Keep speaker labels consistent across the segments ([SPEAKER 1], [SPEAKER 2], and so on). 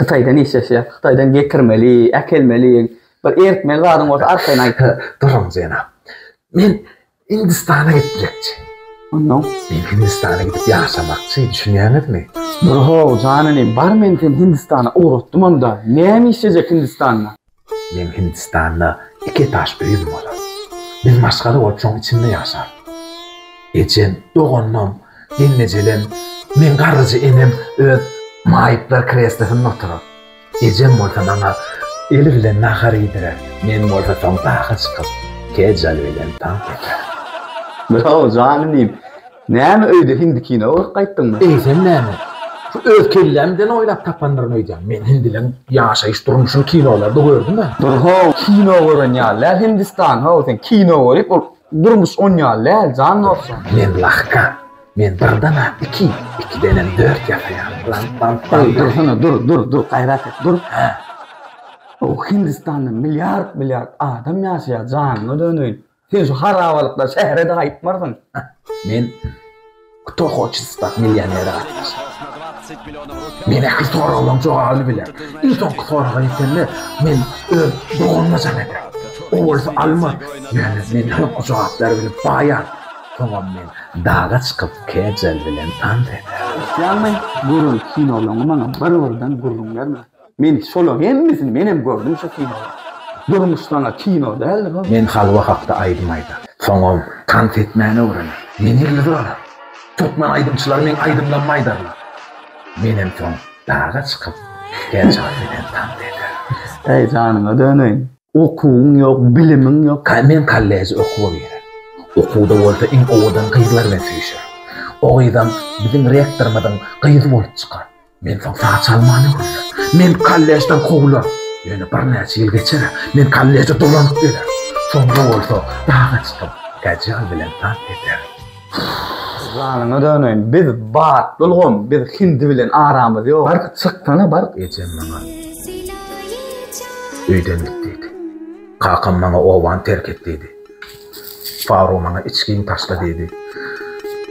[SPEAKER 1] Hytaýdan işleşýä. Hytaýdan getirmeli, äkelmeli. Bir eritmeli zadyň bolsa arkaýyn aýt. Duruň jenap.
[SPEAKER 2] Men Hindistana gitmekçi. Onnoň?
[SPEAKER 1] Men Hindistana
[SPEAKER 2] gidip ýaşamakçy, düşünýäňizmi? Dur-how, jan
[SPEAKER 1] inim, bar men seni Hindistana ugratdymam-da. Näme işlejek Hindistanda? Meň
[SPEAKER 2] Hindistanda iki etaž öýüm bolar. Biz maşgala bolup şoň içinde ýaşarys. Ejem, doganlarym, gelnejelem, meň garryja enem öz maýyplar kreslosynda oturar. Ejem bolsa maňa eli bilen nahar iýdirer, men bolsa soň daga çykyp, kejal bilen tans etjek. Bravo,
[SPEAKER 1] janym diýip. Näme öýde hindi kino görüp gaýtdyňmy? Eýsem näme?
[SPEAKER 2] Şu öz kelläm bilen oýlap tapandyryn öýdýän. Men hindileň ýaşaýyş durmuşyny kinolarda gördüm-ä. Dur-how, kino
[SPEAKER 1] gören ýaly däl Hindistan, how, sen kino görip ol durmuş on ýaly däl jan dostum. Men lahka,
[SPEAKER 2] men birden-ä iki, ikidenem dört ýasaýan. Lant, lant, lant. Dursana, dur,
[SPEAKER 1] dur, dur, gaýrat et, dur. Hä. How, Hindistanda milliard, milliard adam ýaşaýar, janyňa döneýin. Sen şu harabalykda şähere-de gaýtmarsyň. Men
[SPEAKER 2] Kto hoçet stat millionere gatnaşýan. Men ähli soraglaryň jogabyny bilerin. Iň soňky soraga ýetende, men öz doganyma jaň ederin. O bolsa alma, ýöne men soňky jogaplary bilip baýan. Soňam men daga çykyp Kejal bilen tans ederin. Ysýanmy, gören
[SPEAKER 1] kinolaňy maňa bir-birden gürrüň berme. Men şolaň hemmesini menem gördüm şu kinoda. Durmuş saňa kino däldir hol. Men halwa hakda
[SPEAKER 2] aýdym aýdar. Soňam tans etmäni öwrener. Men ýyldyz bolar. Türkmen aýdymçylary meň aýdymlarymy aýdarlar. Menem soň daga çykyp her çaga bilen tans ederin. Äý janyňa döneýin.
[SPEAKER 1] Okuwyň ýok, bilimiň ýok. Men kolleje okuwa
[SPEAKER 2] girerin. Okuwda bolsa iň owadan gyzlar bilen süýşerin. O gyzam biziň rektorymyzyň gyzy bolup çykar. Men soň saç almany gürläp, meni kollejden kowlar. Ýöne birnäçe ýyl geçer, men kolleje dolanyp gelerin. Soňra bolsa daga çykyp, Kajal bilen tans ederin.
[SPEAKER 1] Janyňa döneýin, biz batly ulgam, biz hindi bilen aramyz ýok. Baryp çyksana, baryp. Ejem maňa
[SPEAKER 2] öýden git diýdi. Kakam maňa obany terk et diýdi. Faro maňa içgin taşla diýdi.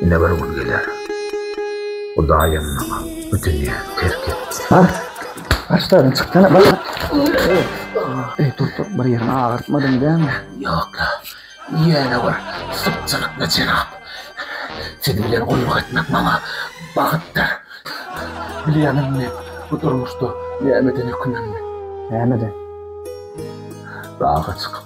[SPEAKER 2] Ine bir gün geler. Hudaýam maňa bu dünýä terk etdi. Bar,
[SPEAKER 1] başlaryny çyksana, bar. Eý, tur, tur, bir ýeriňi agyrtmadyň dämi? Ýok-la,
[SPEAKER 2] ýene bir sypjylykly jenap. Siz bilen gulluk etmek maňa bagtdyr. Bilýäňizmi men bu durmuşda nämeden ökünenimi? Nämeden? Daga çykyp,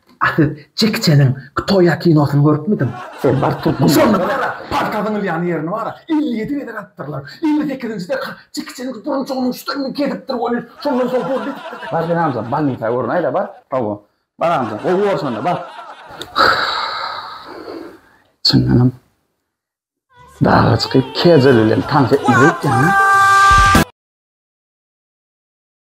[SPEAKER 2] A siz Jeki Çeniň Ktoýa kinosyny görüpmidiň? Sen bar türkmen.
[SPEAKER 1] Şonda bilara palta
[SPEAKER 2] zyňylýan ýerini bara elli ýedi gezek atypdyrlar. Elli sekizinjide Jeki Çeniň burunjygynyň üstünden gezipdir welin, şondan soň boldy edipdirler. Bar sen amca
[SPEAKER 1] bolnisa görün aýda bar. Hawa. Bar amca. Gowy bor şonda bar. Çyndanam daga çykyp kejeli bilen tans etmeli ekeni.